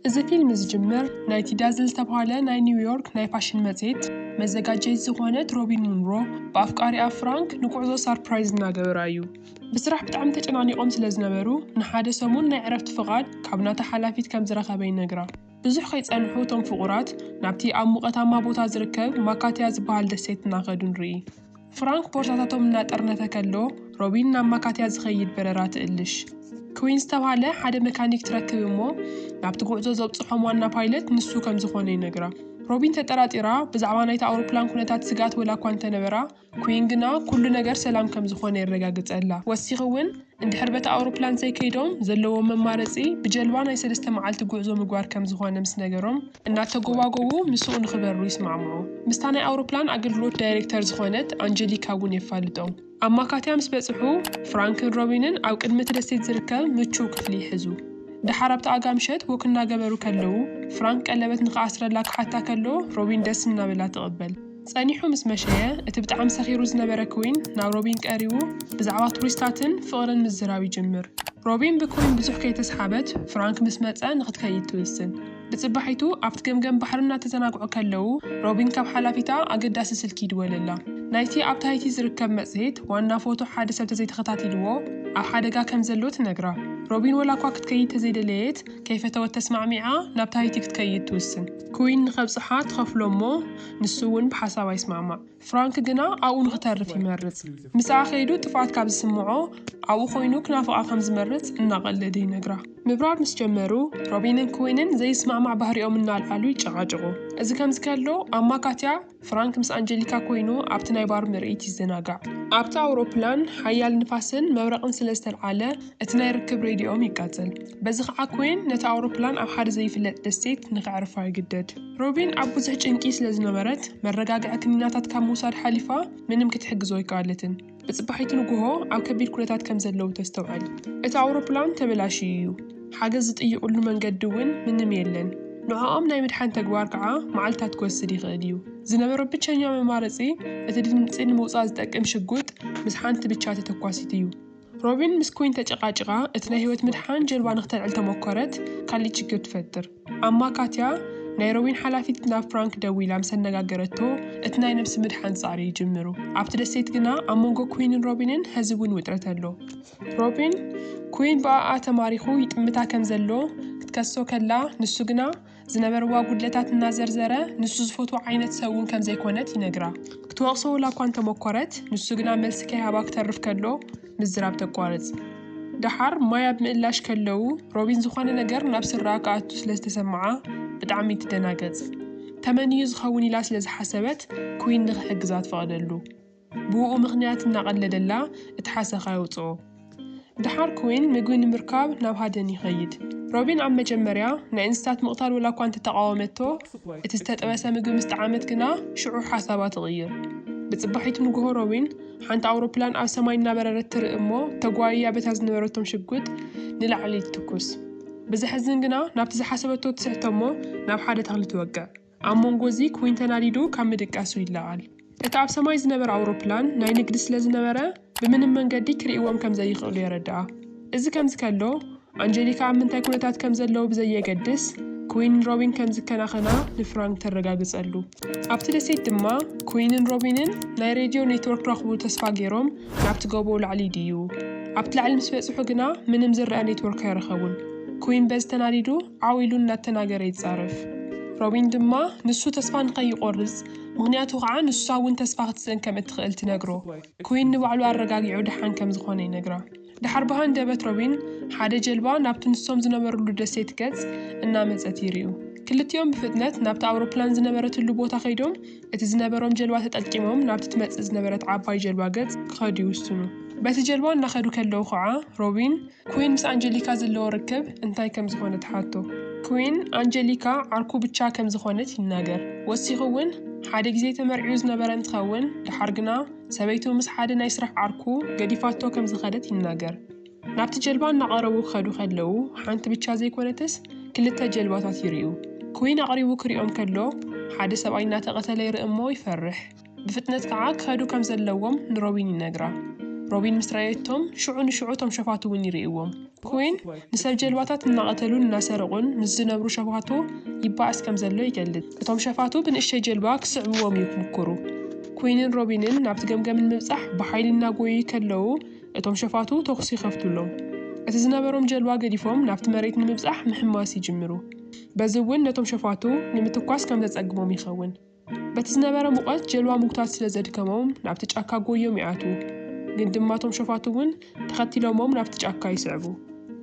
እዚ ፊልም ዝጅምር ናይቲ ዳዝል ዝተብሃለ ናይ ኒው ዮርክ ናይ ፋሽን መጽሔት መዘጋጀዪት ዝኾነት ሮቢን ሙንሮ ብኣፍቃሪኣ ፍራንክ ንጉዕዞ ሳርፕራይዝ እናገበራ እዩ። ብስራሕ ብጣዕሚ ተጨናኒቖም ስለ ዝነበሩ ንሓደ ሰሙን ናይ ዕረፍቲ ፍቓድ ካብ ናታ ሓላፊት ከም ዝረኸበ ይነግራ። ብዙሕ ከይጸንሑ እቶም ፍቑራት ናብቲ ኣብ ሙቐታማ ቦታ ዝርከብ ማካትያ ዝበሃል ደሴት እናኸዱ ንርኢ። ፍራንክ ቦርሳታቶም እናጠርነፈ ከሎ፣ ሮቢን ናብ ማካትያ ዝኸይድ በረራ ትእልሽ። ክዊን ዝተብሃለ ሓደ መካኒክ ትረክብ እሞ፣ ናብቲ ጉዕዞ ዘብጽሖም ዋና ፓይለት ንሱ ከም ዝዀነ ይነግራ። ሮቢን ተጠራጢራ፣ ብዛዕባ ናይታ ኣውሮፕላን ኵነታት ስግኣት ወላ'ኳ እንተ ነበራ፣ ክዊን ግና ኵሉ ነገር ሰላም ከም ዝዀነ የረጋግጸላ። ወሲኹ'ውን፣ እንድሕር በታ ኣውሮፕላን ዘይከይዶም ዘለዎም መማረፂ ብጀልባ ናይ ሰለስተ መዓልቲ ጉዕዞ ምግባር ከምዝኾነ ምስ ነገሮም እናተጎባጎቡ ምስኡ ንኽበሩ ይስማዕምዑ። ምስታ ናይ ኣውሮፕላን ኣገልግሎት ዳይሬክተር ዝኾነት ኣንጀሊካ እውን የፋልጦም። ኣብ ማካትያ ምስ በፅሑ ፍራንክን ሮቢንን ኣብ ቅድሚ እቲ ደሴት ዝርከብ ምቹው ክፍሊ ይሕዙ። ደሓር ኣብቲ ኣጋምሸት ወክ እናገበሩ ከለዉ ፍራንክ ቀለበት ንኽኣስረላ ክሓታ ከሎ ሮቢን ደስ እናበላ ትቕበል። ጸኒሑ ምስ መሸየ፣ እቲ ብጣዕሚ ሰኺሩ ዝነበረ ክዊን ናብ ሮቢን ቀሪቡ ብዛዕባ ቱሪስታትን ፍቕርን ምዝራብ ይጅምር። ሮቢን ብክዊን ብዙሕ ከይተስሓበት ፍራንክ ምስ መጸ ንኽትከይድ ትውስን። ብጽባሒቱ ኣብቲ ገምገም ባሕሪ እናተዘናግዑ ከለዉ ሮቢን ካብ ሓላፊታ ኣገዳሲ ስልኪ ይድወለላ። ናይቲ ኣብ ታሂቲ ዝርከብ መጽሔት ዋና ፎቶ ሓደ ሰብ ተዘይተኸታቲልዎ ኣብ ሓደጋ ከም ዘሎ ትነግራ። ሮቢን ወላኳ ክትከይድ ተዘይደለየት ከይፈተወት ተስማዕሚዓ ናብ ታሂቲ ክትከይድ ትውስን። ክዊን ንኸብጽሓ ትኸፍሎ እሞ ንሱ እውን ብሓሳባ ይስማዕማዕ። ፍራንክ ግና ኣብኡ ንኽተርፍ ይመርጽ። ምስኣ ከይዱ ጥፍኣት ካብ ዝስምዖ፣ ኣብኡ ኮይኑ ክናፍቓ ከም ዝመርጽ እናቐለደ ይነግራ። ምብራር ምስ ጀመሩ፣ ሮቢንን ክዊንን ዘይስማዕማዕ ባህሪኦም እናልዓሉ ይጨቓጨቑ። እዚ ከምዚ ከሎ፣ ኣብ ማካትያ፣ ፍራንክ ምስ ኣንጀሊካ ኮይኑ ኣብቲ ናይ ባር ምርኢት ይዘናጋዕ። ኣብታ ኣውሮፕላን ሓያል ንፋስን መብረቕን ስለ ዝተልዓለ፣ እቲ ናይ ርክብ ሬድዮኦም ይቃጸል። በዚ ኸኣ ክዊን ነታ ኣውሮፕላን ኣብ ሓደ ዘይፍለጥ ደሴት ንኸዕርፋ ይግደድ። ሮቢን ኣብ ብዙሕ ጭንቂ ስለ ዝነበረት፣ መረጋግዒ ክኒናታት ካብ ምውሳድ ሓሊፋ ምንም ክትሕግዞ ኣይከኣለትን። ብጽባሒቱ ንግሆ ኣብ ከቢድ ኵነታት ከም ዘለዉ ተስተውዕል። እቲ ኣውሮፕላን ተበላሽዩ እዩ፣ ሓገዝ ዝጥይቕሉ መንገዲ እውን ምንም የለን። ንዕኦም ናይ ምድሓን ተግባር ከኣ መዓልታት ክወስድ ይኽእል እዩ። ዝነበሮ ብቸኛ መማረጺ፣ እቲ ድምጺ ንምውጻእ ዝጠቅም ሽጉጥ ምስ ሓንቲ ብቻ ተተኳሲት እዩ። ሮቢን ምስ ኮይን ተጨቃጭቃ እቲ ናይ ህይወት ምድሓን ጀልባ ንክተልዕል ተሞኮረት ካሊእ ችግር ትፈጥር ኣማ ካትያ ናይ ሮቢን ሓላፊት ናብ ፍራንክ ደዊላ ምስ ኣነጋገረቶ እቲ ናይ ነብሲ ምድሓን ጻዕሪ ይጅምሩ ኣብቲ ደሴት ግና ኣብ መንጎ ኩይንን ሮቢንን ሀዚ እውን ውጥረት ኣሎ ሮቢን ኩይን ብኣኣ ተማሪኩ ይጥምታ ከም ዘሎ ክትከሶ ከላ ንሱ ግና ዝነበርዋ ጉድለታት እናዘርዘረ ንሱ ዝፈትዎ ዓይነት ሰብ እውን ከም ዘይኮነት ይነግራ። ክትወቕሶ ውላ እኳ እንተመኮረት ንሱ ግና መልሲ ከይሃባ ክተርፍ ከሎ ምዝራብ ተቋርጽ። ደሓር ማይ ኣብ ምእላሽ ከለዉ ሮቢን ዝኾነ ነገር ናብ ስረኣ ክኣቱ ስለ ዝተሰመዓ ብጣዕሚ ትደናገጽ። ተመን እዩ ዝኸውን ኢላ ስለ ዝሓሰበት ኩዊን ንኽሕግዛ ትፈቕደሉ። ብኡኡ ምኽንያት እናቐለደላ እቲ ሓሰኻ የውጽኦ። ደሓር ክዊን ምግቢ ንምርካብ ናብ ሃደን ይኸይድ። ሮቢን ኣብ መጀመርያ ናይ እንስሳት ምቕታል ወላኳ እንተተቓወመቶ፣ እቲ ዝተጠበሰ ምግቢ ምስ ጠዓመት ግና ሽዑ ሓሳባ ትቕይር። ብጽባሒቱ ንግሆ ሮቢን ሓንቲ ኣውሮፕላን ኣብ ሰማይ እናበረረት ትርኢ እሞ ተጓይያ በታ ዝነበረቶም ሽጉጥ ንላዕሊ ትትኩስ። ብዘሕዝን ግና ናብቲ ዝሓሰበቶ ትስሕቶ እሞ ናብ ሓደ ተኽሊ ትወቅዕ። ኣብ መንጎ እዚ ኩዊን ተናዲዱ ካብ ምድቃሱ ይለዓል፣ እቲ ኣብ ሰማይ ዝነበረ ኣውሮፕላን ናይ ንግዲ ስለ ዝነበረ ብምንም መንገዲ ክርእይዎም ከም ዘይኽእሉ የረድኣ። እዚ ከምዚ ከሎ፣ ኣንጀሊካ ኣብ ምንታይ ኩነታት ከም ዘለዉ ብዘየገድስ ኩዊን ንሮቢን ከም ዝከናኸና ንፍራንክ ተረጋግጸሉ። ኣብቲ ደሴት ድማ ኩዊንን ሮቢንን ናይ ሬድዮ ኔትወርክ ክረኽቡ ተስፋ ገይሮም ናብቲ ጎቦ ላዕሊ ይድይቡ። ኣብቲ ላዕሊ ምስ በጽሑ ግና ምንም ዝርኣ ኔትወርክ ኣይረኸቡን። ኩዊን በዚ ተናዲዱ፣ ዓው ኢሉ እናተናገረ ይጻረፍ። ሮቢን ድማ ንሱ ተስፋ ንኸይቖርጽ፣ ምኽንያቱ ኸኣ ንሳ እውን ተስፋ ክትስእን ከም እትኽእል ትነግሮ። ኩዊን ንባዕሉ ኣረጋጊዑ ደሓን ከም ዝዀነ ይነግራ። ደሓር ብሃንደበት ሮቢን ሓደ ጀልባ ናብቲ ንሶም ዝነበርሉ ደሴት ገጽ እናመጸት ይርእዩ። ክልቲኦም ብፍጥነት ናብታ ኣውሮፕላን ዝነበረትሉ ቦታ ከይዶም እቲ ዝነበሮም ጀልባ ተጠቂሞም ናብቲ ትመጽእ ዝነበረት ዓባይ ጀልባ ገጽ ክኸዱ ይውስኑ። በቲ ጀልባ እናኸዱ ከለዉ ኸኣ ሮቢን፣ ኩዊን ምስ ኣንጀሊካ ዘለዎ ርክብ እንታይ ከም ዝኾነ ትሓቶ። ኩዊን፣ ኣንጀሊካ ዓርኩ ብቻ ከም ዝኾነት ይናገር። ወሲኹ እውን፣ ሓደ ግዜ ተመርዕዩ ዝነበረ እንትኸውን፣ ደሓር ግና ሰበይቱ ምስ ሓደ ናይ ስራሕ ዓርኩ ገዲፋቶ ከም ዝኸደት ይናገር። ናብቲ ጀልባ እናቐረቡ ክኸዱ ከለዉ፣ ሓንቲ ብቻ ዘይኮነትስ ክልተ ጀልባታት ይርእዩ። ኩዊን ኣቕሪቡ ክሪኦም ከሎ፣ ሓደ ሰብኣይ እናተቐተለ ይርኢ እሞ ይፈርሕ። ብፍጥነት ከኣ ክኸዱ ከም ዘለዎም ንሮቢን ይነግራ። ሮቢን ምስ ረኣየቶም፣ ሽዑ ንሽዑ እቶም ሸፋቱ እውን ይርእይዎም። ኩዊን ንሰብ ጀልባታት እናቐተሉን እናሰረቑን ምስ ዝነብሩ ሸፋቱ ይበኣስ ከም ዘሎ ይገልጽ። እቶም ሸፋቱ ብንእሽተይ ጀልባ ክስዕብዎም እዩ ክምኩሩ። ኩዊንን ሮቢንን ናብቲ ገምገም ንምብጻሕ ብሓይሊ እናጎየዩ ከለዉ፣ እቶም ሸፋቱ ተኹሲ ይኸፍቱሎም። እቲ ዝነበሮም ጀልባ ገዲፎም ናብቲ መሬት ንምብጻሕ ምሕማስ ይጅምሩ። በዚ እውን ነቶም ሸፋቱ ንምትኳስ ከም ዘጸግሞም ይኸውን። በቲ ዝነበረ ሙቐት ጀልባ ምጉታት ስለ ዘድከሞም ናብቲ ጫካ ጎዮም ይኣትዉ። ግን ድማ እቶም ሸፋቱ እውን ተኸቲሎሞም ናብቲ ጫካ ይስዕቡ።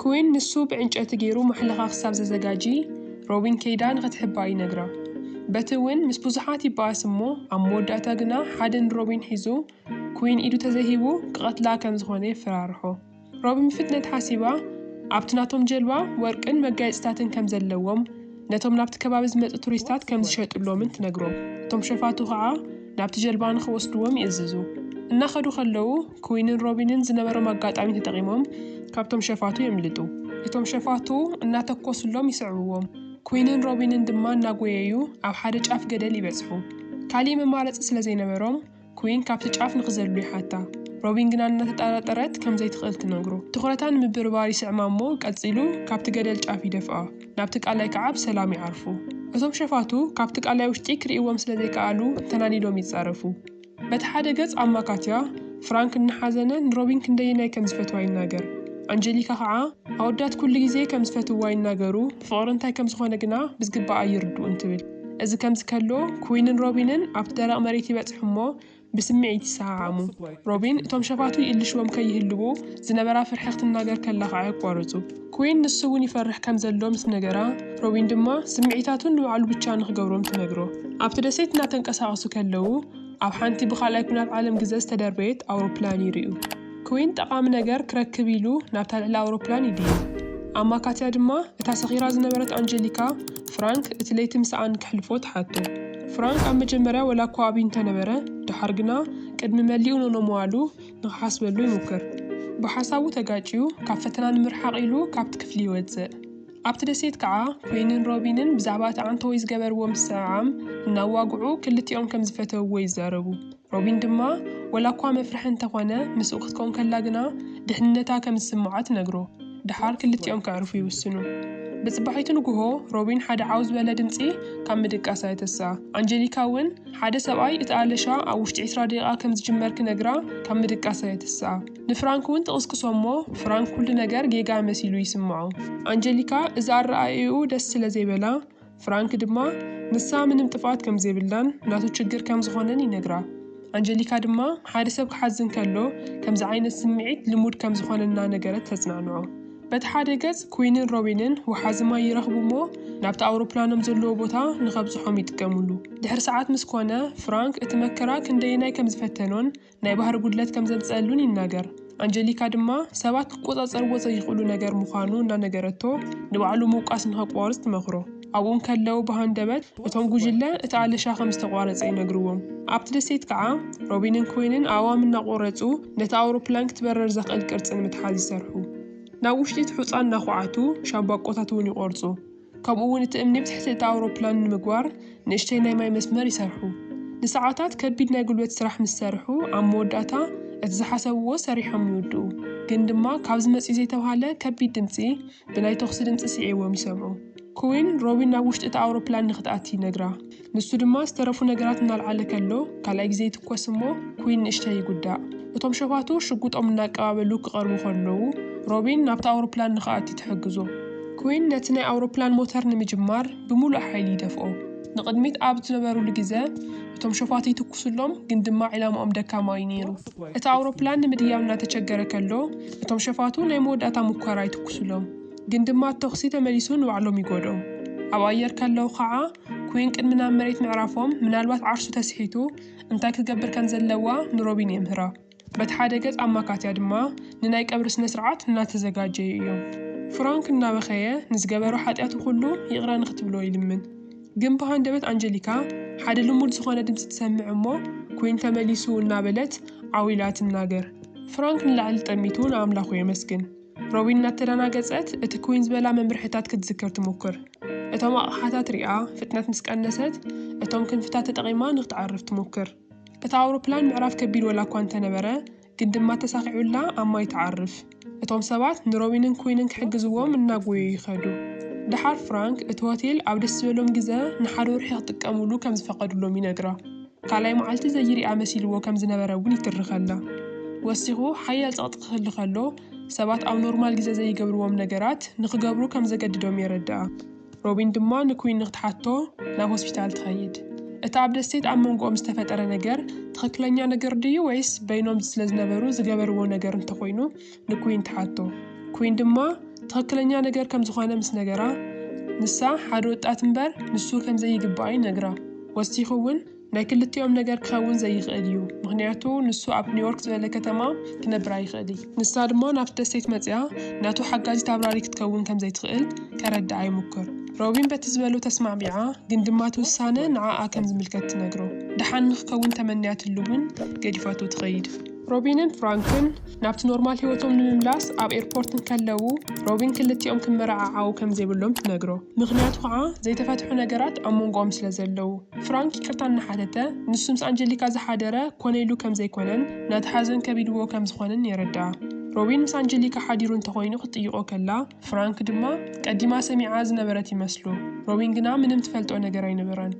ክዊን ንሱ ብዕንጨቲ ገይሩ ማሕለኻ ክሳብ ዘዘጋጂ ሮቢን ከይዳ ንኽትሕባእ ይነግራ። በቲ እውን ምስ ብዙሓት ይበኣስ እሞ ኣብ መወዳእታ ግና ሓደ ንሮቢን ሒዙ ክዊን ኢዱ ተዘይሂቡ ክቐትላ ከም ዝኾነ የፈራርሖ። ሮቢ ምፍትነት ሓሲባ፣ ኣብቲ ናቶም ጀልባ ወርቅን መጋየጽታትን ከም ዘለዎም፣ ነቶም ናብቲ ከባቢ ዝመጹ ቱሪስታት ከም ዝሸጥሎምን ትነግሮም። እቶም ሸፋቱ ኸኣ ናብቲ ጀልባ ንኽወስድዎም ይእዝዙ። እናኸዱ ከለዉ፣ ክዊንን ሮቢንን ዝነበሮም ኣጋጣሚ ተጠቒሞም ካብቶም ሸፋቱ የምልጡ። እቶም ሸፋቱ እናተኮስሎም ይስዕብዎም፣ ክዊንን ሮቢንን ድማ እናጎየዩ ኣብ ሓደ ጫፍ ገደል ይበጽሑ። ካልእ መማረጺ ስለ ዘይነበሮም፣ ኩዊን ካብቲ ጫፍ ንኽዘሉ ይሓታ። ሮቢን ግና እናተጠራጠረት ከም ዘይትኽእል ትነግሮ። ትኹረታ ንምብርባር ይስዕማ'ሞ ቀጺሉ ካብቲ ገደል ጫፍ ይደፍኣ። ናብቲ ቀላይ ከኣ ብሰላም ይዓርፉ። እቶም ሸፋቱ ካብቲ ቀላይ ውሽጢ ክርእይዎም ስለ ዘይከኣሉ ተናዲዶም ይጻረፉ። በቲ ሓደ ገጽ ኣማካትያ፣ ፍራንክ እናሓዘነ ንሮቢን ክንደየናይ ከም ዝፈትዋ ይናገር። ኣንጀሊካ ከኣ ኣወዳት ኩሉ ግዜ ከም ዝፈትውዋ ይናገሩ። ፍቕሪ እንታይ ከም ዝዀነ ግና ብዝግባእ ኣይርድኡን ትብል። እዚ ከምዚ ከሎ፣ ኩዊንን ሮቢንን ኣብቲ ደረቕ መሬት ይበጽሑ እሞ ብስምዒት ይሰዓዓሙ። ሮቢን እቶም ሸፋቱ ይእልሽዎም ከይህልዉ ዝነበራ ፍርሒ ክትናገር ከላ ኸኣ የቋርጹ። ኩዊን ንሱ እውን ይፈርሕ ከም ዘሎ ምስ ነገራ፣ ሮቢን ድማ ስምዒታቱ ንባዕሉ ብቻ ንኽገብሮም ትነግሮ። ኣብቲ ደሴት እናተንቀሳቐሱ ከለዉ፣ ኣብ ሓንቲ ብኻልኣይ ኲናት ዓለም ግዘ ዝተደርበየት ኣውሮፕላን ይርእዩ። ክዊን ጠቓሚ ነገር ክረክብ ኢሉ ናብታ ልዕሊ ኣውሮፕላን ይድይብ። ኣማካትያ ድማ እታ ሰኺራ ዝነበረት ኣንጀሊካ፣ ፍራንክ እቲ ለይቲ ምስኣ ንክሕልፎ ትሓቶ። ፍራንክ ኣብ መጀመርያ ወላ እኳ ኣብዩ እንተነበረ፣ ደሓር ግና ቅድሚ መሊኡ ኖኖ ምባሉ ንክሓስበሉ ይሙክር። ብሓሳቡ ተጋጭዩ ካብ ፈተና ንምርሓቕ ኢሉ ካብቲ ክፍሊ ይወጽእ። ኣብቲ ደሴት ከኣ ኲይንን ሮቢንን ብዛዕባ እቲ ዓንተወይ ዝገበርዎ ምስዕዓም እናዋግዑ ክልቲኦም ከም ዝፈተውዎ ይዛረቡ። ሮቢን ድማ ወላ እኳ መፍርሒ እንተ ዀነ ምስኡ ክትከውን ከላ ግና ድሕንነታ ከም ዝስምዓ ትነግሮ። ደሓር ክልቲኦም ከዕርፉ ይውስኑ። ብጽባሒቱ ንግሆ ሮቢን ሓደ ዓው ዝበለ ድምጺ ካብ ምድቃሳ የተስኣ። ኣንጀሊካ እውን ሓደ ሰብኣይ እቲ ኣለሻ ኣብ ውሽጢ ዕስራ ደቂቓ ከም ዝጅመር ክነግራ ካብ ምድቃሳ የተስኣ። ንፍራንክ እውን ትቕስቅሶ እሞ ፍራንክ ኩሉ ነገር ጌጋ መሲሉ ይስምዖ። ኣንጀሊካ እዚ ኣረኣእያኡ ደስ ስለ ዘይበላ፣ ፍራንክ ድማ ንሳ ምንም ጥፍኣት ከም ዘይብላን ናቱ ችግር ከም ዝኾነን ይነግራ። ኣንጀሊካ ድማ ሓደ ሰብ ክሓዝን ከሎ ከምዚ ዓይነት ስምዒት ልሙድ ከም ዝኾነ እናነገረት ተጽናንዖ። በቲ ሓደ ገጽ ኩዊንን ሮቢንን ወሓዚ ማይ ይረኽቡ እሞ ናብቲ ኣውሮፕላኖም ዘለዎ ቦታ ንኸብጽሖም ይጥቀምሉ። ድሕሪ ሰዓት ምስ ኮነ ፍራንክ እቲ መከራ ክንደየናይ ከም ዝፈተኖን ናይ ባህሪ ጉድለት ከም ዘምጽኣሉን ይናገር። ኣንጀሊካ ድማ ሰባት ክቆጻጸርዎ ዘይኽእሉ ነገር ምዃኑ እናነገረቶ ንባዕሉ ምውቃስ ንኸቋርጽ ትመኽሮ። ኣብኡ እንከለው ብሃንደበት እቶም ጉጅለ እቲ ኣለሻ ከም ዝተቋረጸ ይነግርዎም። ኣብቲ ደሴት ከኣ ሮቢንን ኮይንን ኣእዋም እናቖረጹ ነታ ኣውሮፕላን ክትበርር ዘኽእል ቅርጺ ንምትሓዝ ይሰርሑ። ናብ ውሽጢ እቲ ሑጻ እናዃዓቱ ሻምባቆታት እውን ይቖርጹ። ከምኡ'ውን እቲ እምኒ ብትሕቲ እታ ኣውሮፕላን ንምግባር ንእሽተይ ናይ ማይ መስመር ይሰርሑ። ንሰዓታት ከቢድ ናይ ጉልበት ስራሕ ምስ ሰርሑ፣ ኣብ መወዳእታ እቲ ዝሓሰብዎ ሰሪሖም ይውድኡ። ግን ድማ ካብዚ መጺኡ ዘይተብሃለ ከቢድ ድምጺ ብናይ ተኹሲ ድምጺ ስዒቦም ይሰምዑ። ኩዊን፣ ሮቢን ናብ ውሽጢ እታ ኣውሮፕላን ንኽትኣቲ ይነግራ። ንሱ ድማ ዝተረፉ ነገራት እናልዓለ ከሎ ካልኣይ ግዜ ይትኮስ እሞ ኩዊን ንእሽተይ ይጉዳእ። እቶም ሸፋቱ ሽጉጦም እናቀባበሉ ክቐርቡ ከለዉ፣ ሮቢን ናብታ ኣውሮፕላን ንኽኣቲ ትሕግዞ። ኩዊን ነቲ ናይ ኣውሮፕላን ሞተር ንምጅማር ብምሉእ ሓይሊ ይደፍኦ። ንቕድሚት ኣብ ዝነበሩሉ ግዘ፣ እቶም ሸፋቱ ይትኩሱሎም ግን ድማ ዒላማኦም ደካማ እዩ ነይሩ። እታ ኣውሮፕላን ንምድያብ እናተቸገረ ከሎ፣ እቶም ሸፋቱ ናይ መወዳእታ ሙከራ ይትኩሱሎም ግን ድማ ተኹሲ ተመሊሱ ንባዕሎም ይጎድኦም። ኣብ ኣየር ከለዉ ከዓ፣ ኩዊን ቅድሚ ናብ መሬት ምዕራፎም፣ ምናልባት ዓርሱ ተስሒቱ እንታይ ክትገብር ከም ዘለዋ ንሮቢን የምህራ። በቲ ሓደ ገጽ ኣማካትያ ድማ ንናይ ቀብሪ ስነ-ስርዓት እናተዘጋጀዩ እዮም። ፍራንክ እናበኸየ ንዝገበሮ ሓጢኣቱ ኩሉ ይቕረ ንኽትብሎ ይልምን። ግን ብሃንደበት ኣንጀሊካ ሓደ ልሙድ ዝኾነ ድምጺ ትሰምዕ እሞ ኩዊን ተመሊሱ እናበለት ዓው ኢላ ትናገር። ፍራንክ ንላዕሊ ጠሚቱ ንኣምላኹ የመስግን። ሮቢን እናተደናገጸት እቲ ክዊን ዝበላ መምርሒታት ክትዝክር ትሙኩር። እቶም ኣቕሓታት ሪኣ፣ ፍጥነት ምስ ቀነሰት፣ እቶም ክንፍታት ተጠቒማ ንክትዓርፍ ትሙክር። እታ ኣውሮፕላን ምዕራፍ ከቢድ ወላኳ እንተነበረ፣ ግን ድማ ተሳኺዑላ ኣብ ማይ ትዓርፍ። እቶም ሰባት ንሮቢንን ክዊንን ክሕግዝዎም እናጎየዩ ይኸዱ። ደሓር ፍራንክ እቲ ሆቴል ኣብ ደስ ዝበሎም ግዘ ንሓደ ወርሒ ክጥቀሙሉ ከም ዝፈቐዱሎም ይነግራ። ካልኣይ መዓልቲ ዘይርኣ መሲልዎ ከም ዝነበረ እውን ይትርኸልና። ወሲኹ፣ ሓያል ጸቕጢ ክህሉ ከሎ፣ ሰባት ኣብ ኖርማል ግዜ ዘይገብርዎም ነገራት ንኽገብሩ ከም ዘገድዶም የረድኣ። ሮቢን ድማ ንኩዊን ንኽትሓቶ ናብ ሆስፒታል ትኸይድ። እቲ ኣብ ደሴት ኣብ መንጎኦም ዝተፈጠረ ነገር ትኽክለኛ ነገር ድዩ ወይስ በይኖም ስለዝነበሩ ዝገበርዎ ነገር እንተኾይኑ፣ ንኩዊን ትሓቶ። ኩዊን ድማ ትኽክለኛ ነገር ከም ዝኾነ ምስ ነገራ፣ ንሳ ሓደ ወጣት እምበር ንሱ ከም ዘይግብኣ ይነግራ። ወሲኹ እውን ናይ ክልቲኦም ነገር ክኸውን ዘይኽእል እዩ፣ ምኽንያቱ ንሱ ኣብ ኒውዮርክ ዝበለ ከተማ ክነብር ኣይኽእልይ። ንሳ ድማ ናብቲ ደሴት መጺኣ ናቱ ሓጋዚት ኣብራሪ ክትከውን ከም ዘይትኽእል ከረድኣ ይሙኩር። ሮቢን በቲ ዝበሎ ተስማዕሚዓ ግን ድማ እቲ ውሳነ ንዓኣ ከም ዝምልከት ትነግሮ። ደሓን ንክከውን ተመንያትሉ እውን ገዲፋቶ ትኸይድ። ሮቢንን ፍራንክን ናብቲ ኖርማል ህይወቶም ንምምላስ ኣብ ኤርፖርት እንከለዉ፣ ሮቢን ክልቲኦም ክመረዓዓዉ ከም ዘይብሎም ትነግሮ። ምኽንያቱ ኸኣ ዘይተፈትሑ ነገራት ኣብ መንጎኦም ስለ ዘለዉ። ፍራንክ ይቅርታ እናሓተተ፣ ንሱ ምስ ኣንጀሊካ ዝሓደረ ኮነ ኢሉ ከም ዘይኮነን ነቲ ሓዘን ከቢድዎ ከም ዝኾነን የረድኣ። ሮቢን ምስ ኣንጀሊካ ሓዲሩ እንተኾይኑ ክትጥይቖ ከላ፣ ፍራንክ ድማ ቀዲማ ሰሚዓ ዝነበረት ይመስሎ ሮቢን ግና ምንም ትፈልጦ ነገር ኣይነበራን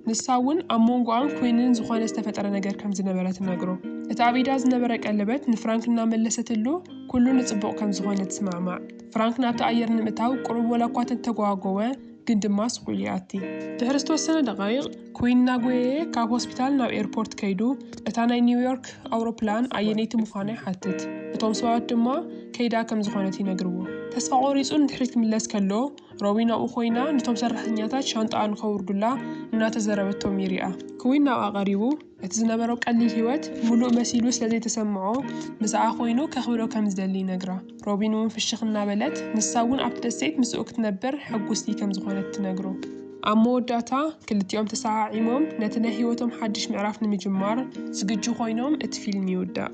ንሳ ውን ኣብ ሞንጎኣን ኮይንን ዝኾነ ዝተፈጠረ ነገር ከም ዝነበረ ትነግሮ እቲ ኣብ ኢዳ ዝነበረ ቀለበት ንፍራንክ እናመለሰትሉ ኩሉ ንጽቡቕ ከም ዝኾነ ትስማዕማዕ ፍራንክ ናብቲ ኣየር ንምእታው ቁሩብ ወላ እኳ ተተጓጎወ ግን ድማ ስቁኢሉ ይኣቲ። ድሕሪ ዝተወሰነ ደቓይቕ፣ ኩዊን እናጎየየ ካብ ሆስፒታል ናብ ኤርፖርት ከይዱ እታ ናይ ኒውዮርክ ኣውሮፕላን ኣየነይቲ ምዃና ይሓትት። እቶም ሰባት ድማ ከይዳ ከም ዝኾነት ይነግርዎ። ተስፋ ቆሪጹ ንድሕሪት ክምለስ ከሎ፣ ሮቢን ኣብኡ ኮይና ንቶም ሰራሕተኛታት ሻንጣኣ ንኸውርዱላ እናተዘረበቶም ይሪኣ። ኩዊን ናብኣ ቀሪቡ። እቲ ዝነበሮ ቀሊል ህይወት ምሉእ መሲሉ ስለ ዘይተሰምዖ፣ ምስኣ ዀይኑ ከኽብሮ ከም ዝደሊ ይነግራ። ሮቢን እውን ፍሽኽ እናበለት፣ ንሳ እውን ኣብቲ ደሴት ምስኡ ክትነብር ሕጕስቲ ከም ዝዀነት ትነግሮ። ኣብ መወዳእታ፣ ክልቲኦም ተሰዓዒሞም ነቲ ናይ ህይወቶም ሓድሽ ምዕራፍ ንምጅማር ዝግጁ ዀይኖም እቲ ፊልም ይውዳእ።